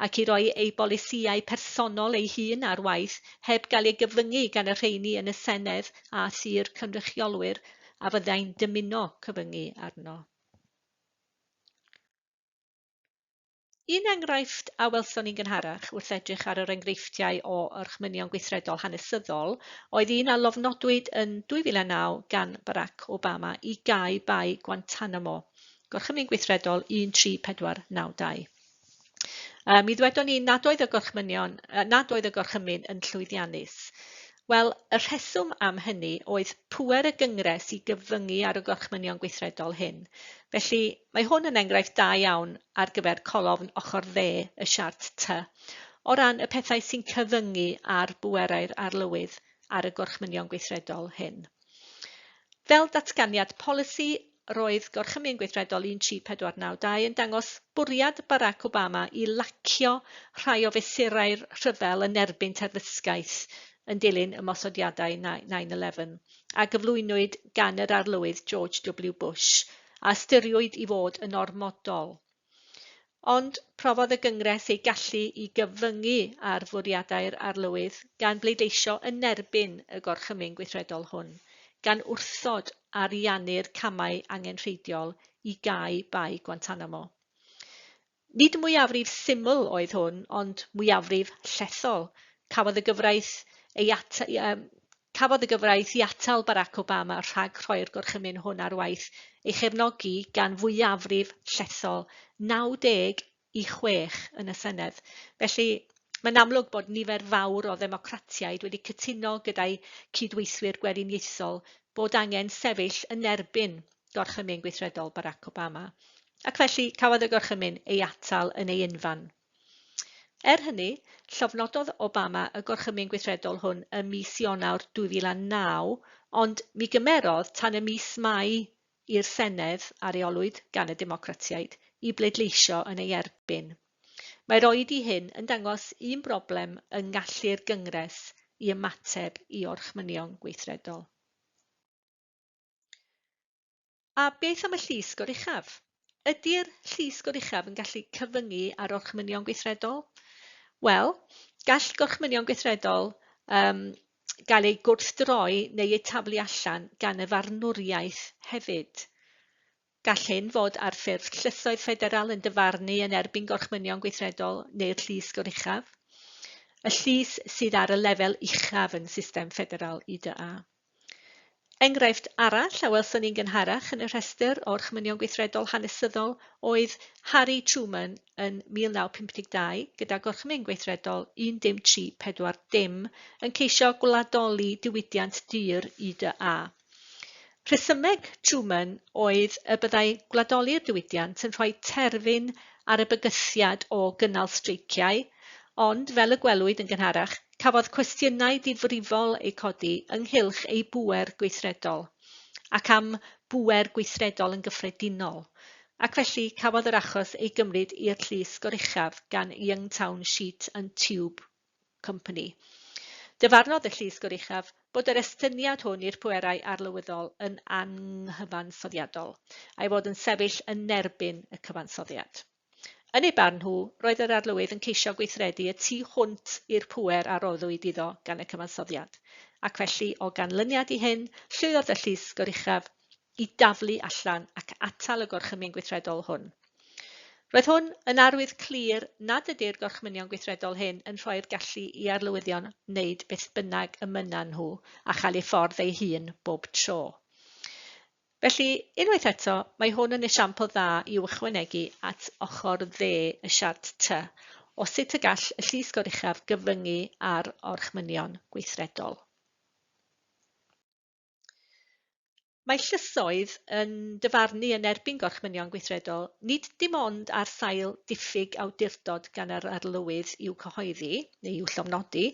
ac i roi ei bolisïau personol ei hun ar waith heb gael ei gyfyngu gan y rheini yn y Senedd a thu'r cynrychiolwyr a fyddai'n dymuno cyfyngu arno? Un enghraifft a welson ni'n gynharach wrth edrych ar yr enghreifftiau o orchmynion gweithredol hanesyddol oedd un a lofnodwyd yn 2009 gan Barack Obama i gau Bae Guantanamo, Gorchymyn Gweithredol 13492. Uh, mi ddwedon ni nad oedd y gorchmynion, uh, nad oedd y gorchymyn yn llwyddiannus. Wel, y rheswm am hynny oedd pwer y gyngres i gyfyngu ar y gorchmynion gweithredol hyn. Felly, Mae hwn yn enghraifft da iawn ar gyfer colofn ochr dde y siart Ty, o ran y pethau sy'n cyfyngu ar bwerau'r arlywydd ar y Gorchmynion Gweithredol hyn. Fel datganiad polisi, roedd Gorchymyn Gweithredol 13492 yn dangos bwriad Barack Obama i lacio rhai o fesurau'r rhyfel yn erbyn terfysgaeth yn dilyn ymosodiadau 9-11 a gyflwynwyd gan yr Arlywydd George W Bush a ystyriwyd i fod yn ormodol. Ond profodd y Gyngres ei gallu i gyfyngu ar fwriadau'r Arlywydd gan bleidleisio yn erbyn y Gorchymyn Gweithredol hwn, gan wrthod ariannu'r camau angenrheidiol i gau Bae Guantanamo. Nid mwyafrif syml oedd hwn, ond mwyafrif llethol. Cafodd y gyfraith ei at- yym cafodd y gyfraith i atal Barack Obama rhag rhoi'r gorchymyn hwn ar waith ei chefnogi gan fwyafrif llethol, 90 i 6, yn y Senedd. Felly, mae'n amlwg bod nifer fawr o ddemocratiaid wedi cytuno gyda'u cyd-weithwyr Gweriniaethol bod angen sefyll yn erbyn gorchymyn gweithredol Barack Obama. Ac felly, cafodd y gorchymyn ei atal yn ei unfan. Er hynny, llofnododd Obama y gorchymyn gweithredol hwn ym mis Ionawr 2009, ond mi gymerodd tan y mis Mai i'r Senedd, a reolwyd gan y Democratiaid, i bleidleisio yn ei erbyn. Mae'r oed i hyn yn dangos un broblem yng ngallu'r Gyngres i ymateb i orchmynion gweithredol. A beth am y Llys Goruchaf? Ydy'r Llys Goruchaf yn gallu cyfyngu ar orchmynion gweithredol? Wel, gall gorchmynion gweithredol um, gael eu gwrthdroi neu eu taflu allan gan y farnwriaeth hefyd. Gall hyn fod ar ffurf llysoedd ffederal yn dyfarnu yn erbyn gorchmynion gweithredol neu'r llys goruchaf, y llys sydd ar y lefel uchaf yn system ffederal IDA. Enghraifft arall a welson ni'n gynharach yn y rhestr o'r chmynion gweithredol hanesyddol oedd Harry Truman yn 1952 gyda Gorchmyn Gweithredol 'un dim tri pedwar dim' yn ceisio gwladoli diwydiant dur i dy a. Rhesymeg Truman oedd y byddai gwladoli'r diwydiant yn rhoi terfyn ar y bygythiad o gynnal streiciau, ond fel y gwelwyd yn gynharach, Cafodd cwestiynau difrifol eu codi ynghylch ei bŵer gweithredol ac am bŵer gweithredol yn gyffredinol, ac felly cafodd yr achos ei gymryd i'r llys goruchaf gan Youngtown Sheet and Tube Company. Dyfarnodd y llys goruchaf bod yr estyniad hwn i'r pwerau arlywyddol yn anghyfansoddiadol, a'i fod yn sefyll yn erbyn y cyfansoddiad. Yn eu barn nhw, roedd yr Arlywydd yn ceisio gweithredu y tu hwnt i'r pŵer a roddwyd iddo gan y Cyfansoddiad, ac felly, o ganlyniad i hyn, llwyddodd y Llys Goruchaf i daflu allan ac atal y Gorchymyn Gweithredol hwn. Roedd hwn yn arwydd clir nad ydy'r Gorchmynion Gweithredol hyn yn rhoi'r gallu i Arlywyddion wneud beth bynnag y mynnan nhw a chael ei ffordd eu hun bob tro. Felly, unwaith eto, mae hwn yn esiampl dda i'w ychwanegu at ochr dde y siart Ty o sut y gall y Llys Goruchaf gyfyngu ar orchmynion gweithredol. Mae llysoedd yn dyfarnu yn erbyn gorchmynion gweithredol nid dim ond ar sail diffyg awdurdod gan yr Arlywydd i'w cyhoeddi, neu i'w llofnodi,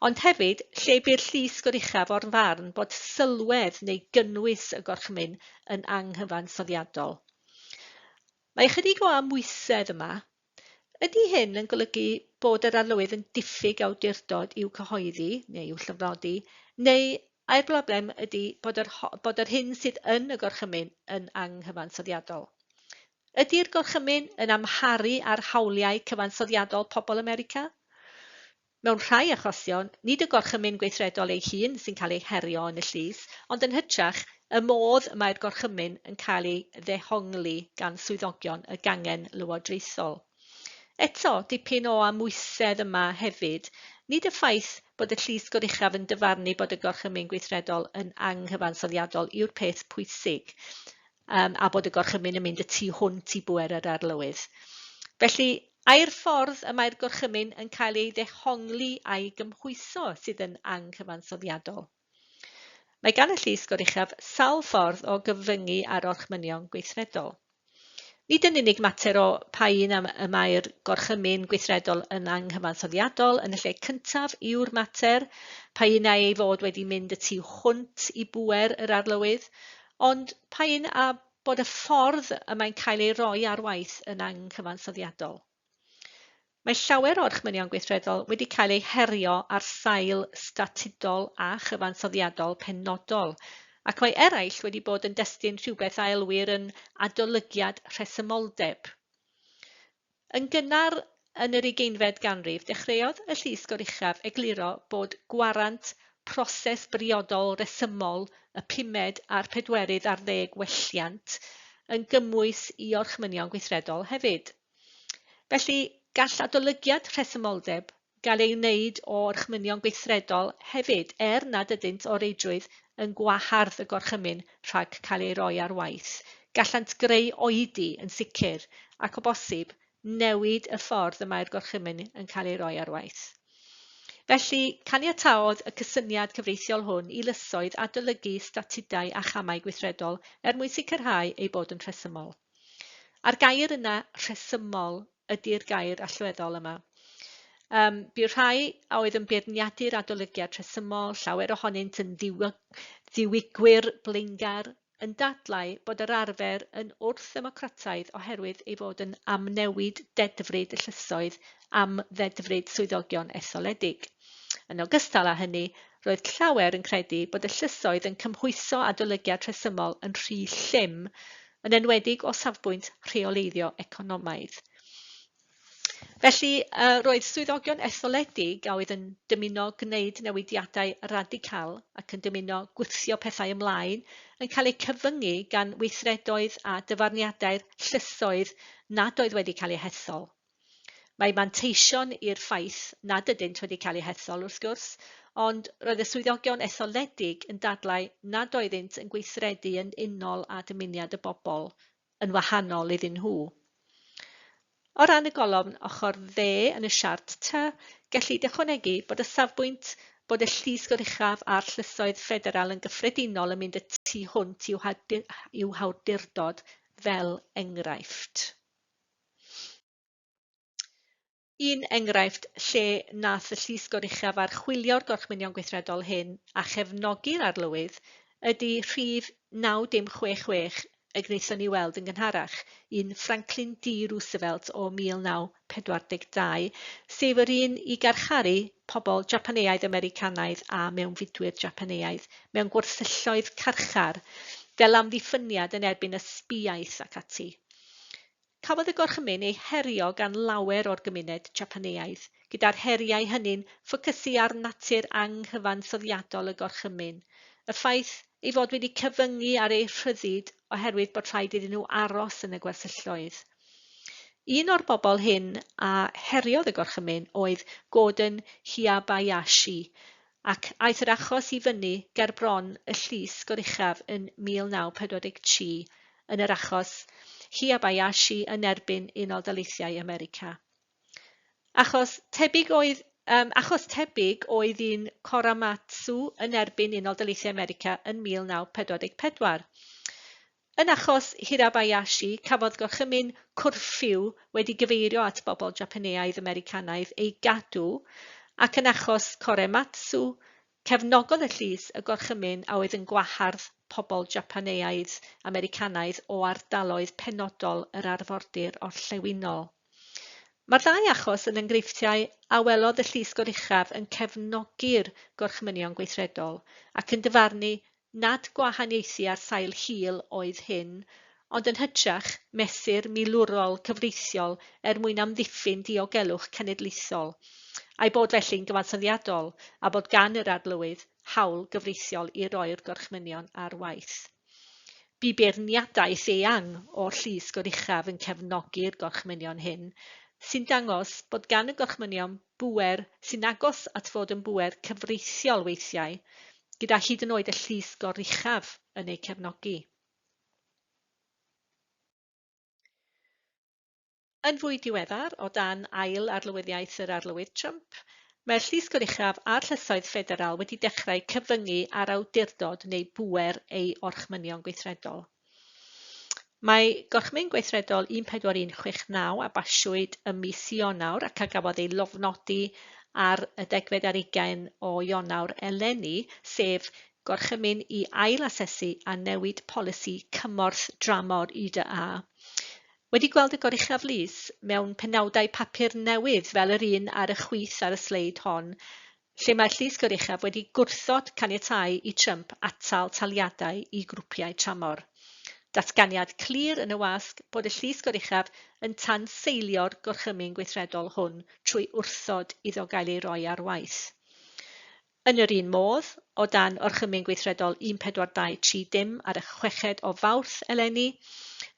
ond hefyd lle bu'r llys goruchaf o'r farn bod sylwedd neu gynnwys y gorchmyn yn anghyfansoddiadol. Mae ychydig o amwysedd yma. Ydy hyn yn golygu bod yr arlywydd yn diffyg awdurdod i'w cyhoeddi neu i'w llofnodi, neu ai'r broblem ydy bod yr, bod yr hyn sydd yn y gorchymyn yn anghyfansoddiadol? Ydi'r Gorchymyn yn amharu ar hawliau cyfansoddiadol pobl America? Mewn rhai achosion, nid y Gorchymyn Gweithredol ei hun sy'n cael ei herio yn y llys, ond yn hytrach, y modd y mae'r Gorchymyn yn cael ei ddehongli gan swyddogion y gangen lywodraethol. Eto, dipyn o amwysedd yma hefyd, nid y ffaith bod y Llys Goruchaf yn dyfarnu bod y Gorchymyn Gweithredol yn anghyfansoddiadol yw'r peth pwysig, um, a bod y gorchymyn yn mynd y tu hwnt i bwer yr arlywydd. Felly, ai'r ffordd y mae'r gorchymyn yn cael ei ddehongli a'i gymhwyso sydd yn anghyfansoddiadol. Mae gan y llys goruchaf sawl ffordd o gyfyngu ar orchmynion gweithredol. Nid yn unig mater o pa un am y mae'r gorchymyn gweithredol yn anghyfansoddiadol yn y lle cyntaf yw'r mater, pa un ei fod wedi mynd y tu hwnt i bwer yr arlywydd, Ond pa un a bod y ffordd y mae'n cael ei roi ar waith yn anghyfansoddiadol. Mae llawer o'r chmynion gweithredol wedi cael eu herio ar sail statudol a chyfansoddiadol penodol, ac mae eraill wedi bod yn destun rhywbeth a elwir yn adolygiad rhesymoldeb. Yn gynnar yn yr ugeinfed ganrif, dechreuodd y Llys Goruchaf egluro bod gwarant proses briodol resymol y pumed a'r pedwerydd ar ddeg welliant yn gymwys i orchmynion gweithredol hefyd. Felly, gall adolygiad rhesymoldeb gael ei wneud o orchmynion gweithredol hefyd, er nad ydynt o reidrwydd yn gwahardd y gorchymyn rhag cael ei roi ar waith, gallant greu oedi, yn sicr, ac o bosib, newid y ffordd y mae'r gorchymyn yn cael ei roi ar waith. Felly, caniataodd y cysyniad cyfreithiol hwn i lysoedd adolygu statudau a chamau gweithredol er mwyn sicrhau eu bod yn rhesymol. A'r gair yna 'rhesymol' ydi'r gair allweddol yma. Um, bu'r rhai a oedd yn beirniadu'r adolygiad rhesymol, llawer ohonynt yn ddiwigwyr blaengar, yn dadlau bod yr arfer yn wrth-ddemocrataidd oherwydd ei fod yn amnewid dedfryd y llysoedd am ddedfryd swyddogion etholedig. Yn ogystal â hynny, roedd llawer yn credu bod y llysoedd yn cymhwyso adolygiad rhesymol yn rhy llym yn enwedig o safbwynt rheoleiddio economaidd. Felly, roedd swyddogion etholedig a oedd yn dymuno gwneud newidiadau radical ac yn dymuno gwthio pethau ymlaen yn cael eu cyfyngu gan weithredoedd a dyfarniadau'r llysoedd nad oedd wedi cael eu hethol. Mae manteision i'r ffaith nad ydynt wedi cael eu hethol, wrth gwrs, ond roedd y swyddogion etholedig yn dadlau nad oeddynt yn gweithredu yn unol â dymuniad y bobl, yn wahanol iddyn nhw. O ran y golofn ochr dde yn y siart tŷ, gellid ychwanegu bod y safbwynt bod y Llys Goruchaf a'r Llysoedd Ffederal yn gyffredinol yn mynd y tu hwnt i'w hawdurdod fel enghraifft. Un enghraifft lle nath y Llys Goruchaf archwilio'r gorchmynion gweithredol hyn a chefnogi'r arlywydd ydy rhif 9066 y gwnaethon ni weld yn gynharach, un Franklin D Roosevelt o 1942, sef yr un i garcharu pobl Japaneaidd-Americanaidd a mewnfudwyr Japaneaidd mewn gwersylloedd carchar fel amddiffyniad yn erbyn ysbiaeth ac ati. Cafodd y Gorchymyn ei herio gan lawer o'r gymuned Japaneaidd, gyda'r heriau hynny'n ffocysu ar natur anghyfansoddiadol y Gorchymyn, y ffaith ei fod wedi cyfyngu ar eu rhyddid oherwydd bod rhaid iddyn nhw aros yn y gwersylloedd. Un o'r bobl hyn a heriodd y Gorchymyn oedd Gordon Hiyabayashi, ac aeth yr achos i fyny ger bron y llys goruchaf yn 1943 yn yr achos Hiyabayashi yn erbyn Unol Daleithiau America. Achos tebyg oedd um, achos tebyg oedd un Koramatsu yn erbyn Unol Daleithiau America yn 1944. Yn achos Hirabayashi, cafodd gorchymyn cwrffiw wedi gyfeirio at bobl Japaneaidd-Americanaidd ei gadw, ac yn achos Korematsu, cefnogodd y llys y gorchymyn a oedd yn gwahardd pobl Japaneaidd-Americanaidd o ardaloedd penodol yr arfordir orllewinol. Mae'r ddau achos yn enghreifftiau a welodd y Llys Goruchaf yn cefnogi'r Gorchmynion Gweithredol ac yn dyfarnu nad gwahaniaethu ar sail hil oedd hyn, ond yn hytrach mesur milwrol cyfreithiol er mwyn amddiffyn diogelwch cenedlaethol, a'i bod felly'n gyfansoddiadol a bod gan yr Arlywydd hawl gyfreithiol i roi'r Gorchmynion ar waith. Bu beirniadaeth eang o'r Llys Goruchaf yn cefnogi'r gorchmynion hyn, sy'n dangos bod gan y gorchmynion bŵer sy'n agos at fod yn bŵer cyfreithiol weithiau, gyda hyd yn oed y Llys Goruchaf yn eu cefnogi. Yn fwy diweddar, o dan ail arlywyddiaeth yr Arlywydd Trump, mae'r Llys Goruchaf a'r llysoedd ffederal wedi dechrau cyfyngu ar awdurdod neu bŵer ei orchmynion gweithredol. Mae Gorchmyn Gweithredol 14169 a basiwyd ym mis Ionawr ac a gafodd ei lofnodi ar y degfed ar ugain o Ionawr eleni, sef gorchymyn i ail-asesu a newid polisi cymorth dramor UDA, Wedi gweld y goruchaf lys mewn penawdau papur newydd fel yr un ar y chwith ar y sleid hon, lle mae'r llys goruchaf wedi gwrthod caniatáu i Trump atal taliadau i grwpiau tramor. Datganiad clir yn y wasg bod y llys goruchaf yn tanseilio'r gorchymyn gweithredol hwn trwy wrthod iddo gael ei roi ar waith. Yn yr un modd, o dan Orchymyn Gweithredol 1423 dim ar y chweched o Fawrth eleni,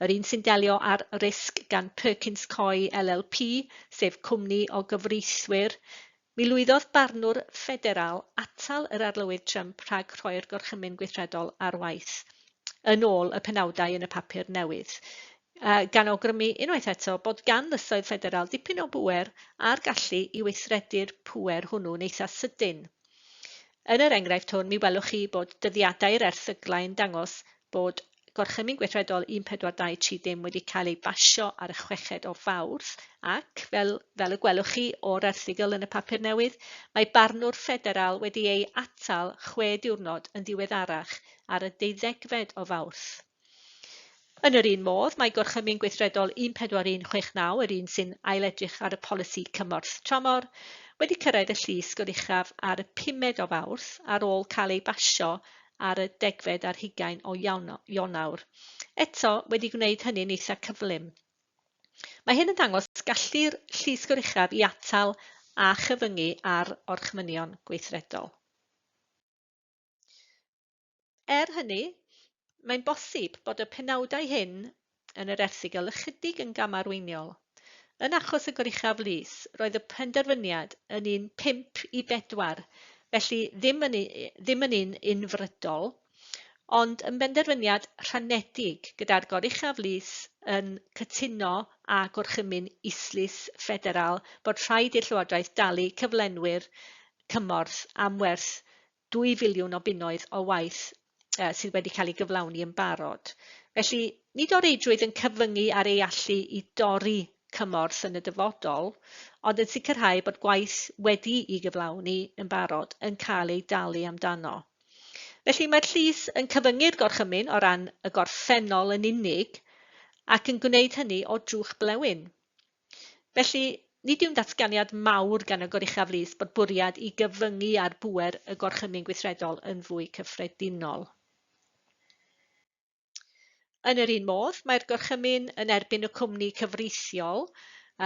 yr un sy'n delio â'r risg gan Perkins Coie LLP, sef cwmni o gyfreithwyr, mi lwyddodd barnwr ffederal atal yr Arlywydd Trump rhag rhoi'r Gorchymyn Gweithredol ar waith, yn ôl y penawdau yn y papur newydd. A gan awgrymu unwaith eto bod gan lysoedd ffederal dipyn o bŵer a'r gallu i weithredu'r pŵer hwnnw'n eitha' sydyn. Yn yr enghraifft hwn, mi welwch chi bod dyddiadau'r erthyglau yn dangos bod Gorchymyn Gweithredol 1423 wedi cael ei basio ar y chweched o Fawrth ac, fel, fel y gwelwch chi o'r erthygl yn y papur newydd, mae barnwr ffederal wedi ei atal chwe diwrnod yn ddiweddarach ar y deuddegfed o Fawrth. Yn yr un modd, mae Gorchymyn Gweithredol 14169, yr un sy'n ailedrych ar y polisi cymorth tramor, wedi cyrraedd y llys goruchaf ar y pumed o Fawrth ar ôl cael ei basio ar y degfed ar hugain o Ionawr. Eto, wedi gwneud hynny'n eitha' cyflym. Mae hyn yn dangos gallu'r llys goruchaf i atal a chyfyngu ar orchmynion gweithredol. Er hynny, mae'n bosib bod y penawdau hyn yn yr erthygl ychydig yn gamarweiniol. Yn achos y Goruchaf Lys, roedd y penderfyniad yn un 5 i 4, felly ddim yn, ddim yn un unfrydol, ond yn benderfyniad rhanedig gyda'r Goruchaf Lys yn cytuno â Gorchymyn Islys Ffederal bod rhaid i'r Llywodraeth dalu cyflenwyr cymorth am werth dwy filiwn o bunnoedd o waith sydd wedi cael ei gyflawni yn barod. Felly, nid o reidrwydd yn cyfyngu ar ei allu i dorri cymorth yn y dyfodol, ond yn sicrhau bod gwaith wedi'i gyflawni yn barod yn cael ei dalu amdano. Felly, mae'r llys yn cyfyngu'r gorchymyn o ran y gorffennol yn unig ac yn gwneud hynny o drwch blewyn. Felly, nid yw'n ddatganiad mawr gan y Goruchaf Lys bod bwriad i gyfyngu ar bŵer y Gorchymyn Gweithredol yn fwy cyffredinol. Yn yr un modd, mae'r Gorchymyn yn erbyn y cwmni cyfreithiol,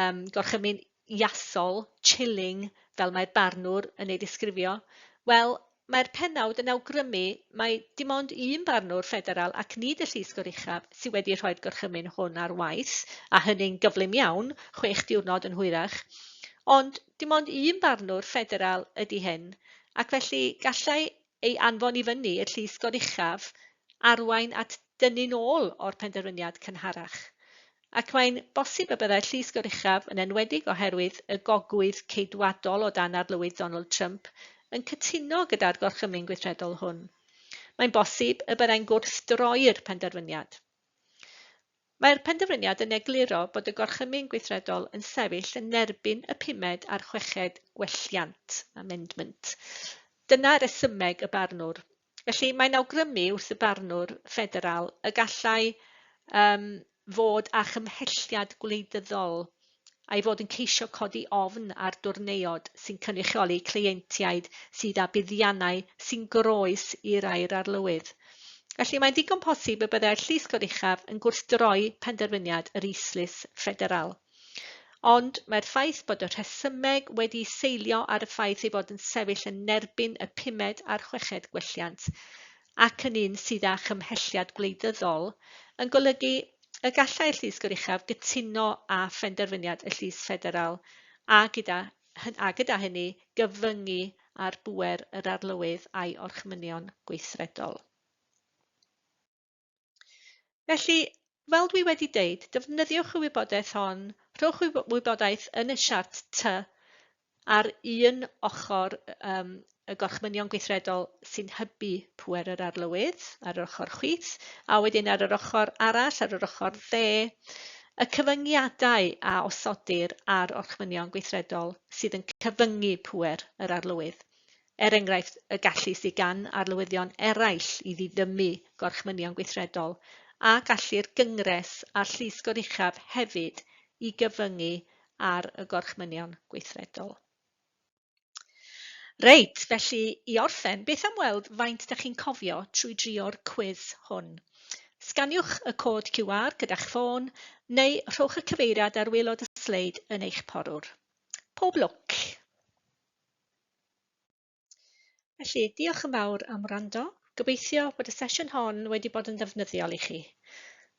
um, Gorchymyn Iasol, Chilling, fel mae'r barnwr yn ei ddisgrifio, wel, Mae'r pennawd yn awgrymu mai dim ond un barnwr ffederal ac nid y Llysgwr uchaf sydd wedi rhoi'r gorchymyn hwn ar waith, a hynny'n gyflym iawn, chwech diwrnod yn hwyrach. Ond dim ond un barnwr ffederal ydi hyn, ac felly gallai ei anfon i fyny i'r Llysgwr uchaf arwain at dynnu'n ôl o'r penderfyniad cynharach. ac mae'n bosib y byddai'r Llys Goruchaf, yn enwedig oherwydd y gogwydd Ceidwadol o dan Arlywydd Donald Trump, yn cytuno gyda'r Gorchymyn Gweithredol hwn. Mae'n bosib y byddai'n gwrthdroi'r penderfyniad. Mae'r penderfyniad yn egluro bod y Gorchymyn Gweithredol yn sefyll yn erbyn y pumed a'r chweched gwelliant, amendment. Dyna resymeg y barnwr. Felly, mae'n awgrymu wrth y barnwr ffederal y gallai um, fod â chymhelliad gwleidyddol a'i fod yn ceisio codi ofn ar dwrneiod sy'n cynrychioli cleientiaid sydd â buddiannau sy'n groes i rai'r arlywydd. Felly mae'n ddigon posib y byddai'r llys goruchaf yn gwrthdroi penderfyniad yr Islys Ffederal. Ond mae'r ffaith bod y rhesymeg wedi seilio ar y ffaith ei fod yn sefyll yn erbyn y pumed a'r chweched gwelliant, ac yn un sydd â chymhelliad gwleidyddol, yn golygu y gallai'r Llys Goruchaf gytuno â phenderfyniad y Llys Ffederal a gyda, a gyda hynny gyfyngu ar bŵer yr Arlywydd a'i orchmynion gweithredol. Felly, fel dwi wedi deud, defnyddiwch y wybodaeth hon, rhowch y wybodaeth yn y siart T ar un ochr um, y gorchmynion gweithredol sy'n hybu pwer yr arlywydd ar yr ochr chwith, a wedyn ar yr ochr arall, ar yr ochr dde, y cyfyngiadau a osodir ar orchmynion gweithredol sydd yn cyfyngu pwer yr arlywydd. er enghraifft y gallu sydd gan arlywyddion eraill i ddiddymu gorchmynion gweithredol, a gallu'r Gyngres a'r Llys Goruchaf hefyd i gyfyngu ar y gorchmynion gweithredol. Reit, felly i orffen, beth am weld faint da chi'n cofio trwy drio'r cwis hwn? Sganiwch y cod QR gyda'ch ffôn, neu rhowch y cyfeiriad ar waelod y sleid yn eich porwr. Pob lwc! Felly, diolch yn fawr am wrando. Gobeithio bod y sesiwn hon wedi bod yn ddefnyddiol i chi.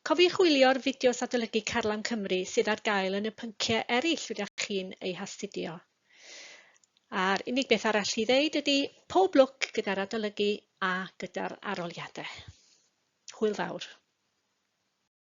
Cofiwch wylio'r fideos adolygu Carlam Cymru sydd ar gael yn y pynciau eraill rydych chi'n eu hastudio. A'r unig beth arall i ddeud ydy pob lwc gyda'r adolygu a gyda'r arholiadau. Hwyl fawr.